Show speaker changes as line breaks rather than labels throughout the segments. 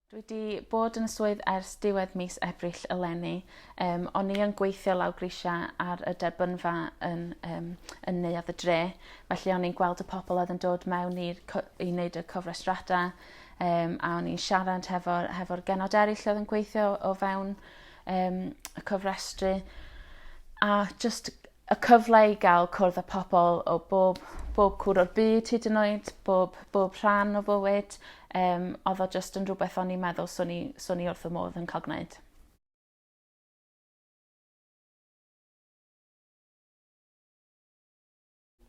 Dwi 'di bod yn y swydd ers diwedd mis Ebrill eleni. Um, o'n i yn gweithio law grisiau ar y derbynfa yn, um, yn neuadd y dre, felly o'n i'n gweld y pobl oedd yn dod mewn i'r i wneud y cofrestrada, um, a o'n i'n siarad hefo'r hefo genod eraill oedd yn gweithio o fewn um, y cofrestru. A just y cyfle i gael cwrdd â pobl o bob, bob cwr o'r byd hyd yn oed, bob, bob rhan o fywyd, um, oedd o just yn rhywbeth o'n i'n meddwl swn i, swn i wrth y modd yn cael gwneud.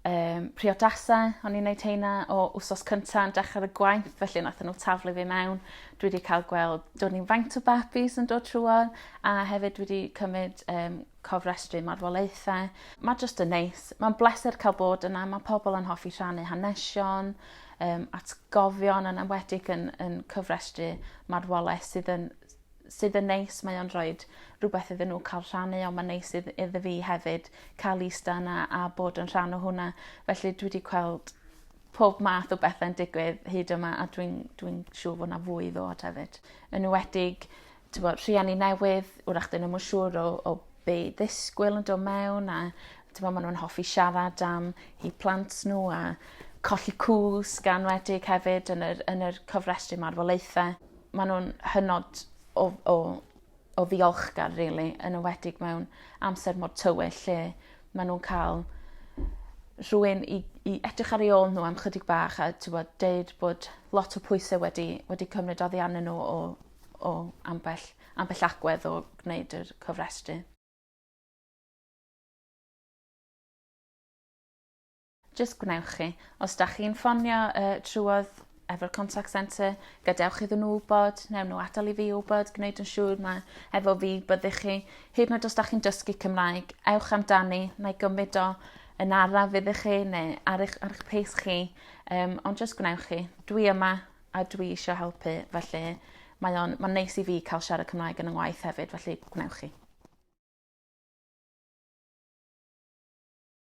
um, priodasau, o'n i'n neud heina o wsos cynta yn dechrau y gwaith, felly nath nhw taflu fi mewn. Dwi wedi cael gweld, do'n i'n faint o babis yn dod trwy, a hefyd dwi wedi cymryd um, cofrestru marwolaethau. Mae jyst yn neis. Mae'n bleser cael bod yna. Mae pobl yn hoffi rhannu hanesion, um, atgofion yn enwedig yn, yn cyfrestru marwolaeth sydd yn, sydd yn neis. Mae o'n rhoi rhywbeth iddyn nhw cael rhannu, ond mae'n neis idd, iddo fi hefyd cael eista yna a bod yn rhan o hwnna. Felly dwi wedi gweld pob math o bethau'n digwydd hyd yma a dwi'n dwi, dwi siŵr fod yna fwy i ddod hefyd. Yn enwedig t'bo' rhieni newydd 'w'rach 'dyn nw'm yn siŵr o o be' i ddisgwyl yn do' mewn a t'mo' ma' nw'n hoffi siarad am 'u plant n'w a colli cwsg a enwedig hefyd yn yr yn yr cofrestru marwolaethe. Ma' nw'n hynod o o o ddiolchgar rili yn enwedig mewn amser mor tywyll lle ma' nw'n ca'l rhywun i i edrych ar 'u ôl n'w am chydig bach a t'wbod deud bod lot o pwyse wedi wedi cymryd oddi arnyn n'w o o ambell, ambell agwedd o gwneud yr cofrestru. Jyst gwnewch chi. Os da chi'n ffonio uh, trwodd efo'r contact centre, gadewch iddyn nhw wybod, newn nhw adael i fi wybod, gwneud yn siŵr mae efo fi byddych chi. Hyd yn oed os da chi'n dysgu Cymraeg, ewch amdani, na i gymryd o yn araf iddych chi neu ar eich, ar eich pace chi, um, ond jyst gwnewch chi. Dwi yma, a dwi isio helpu felly mae o'n ma'n neis i fi ca'l siarad Cymraeg yn 'y ngwaith hefyd felly gwnewch chi.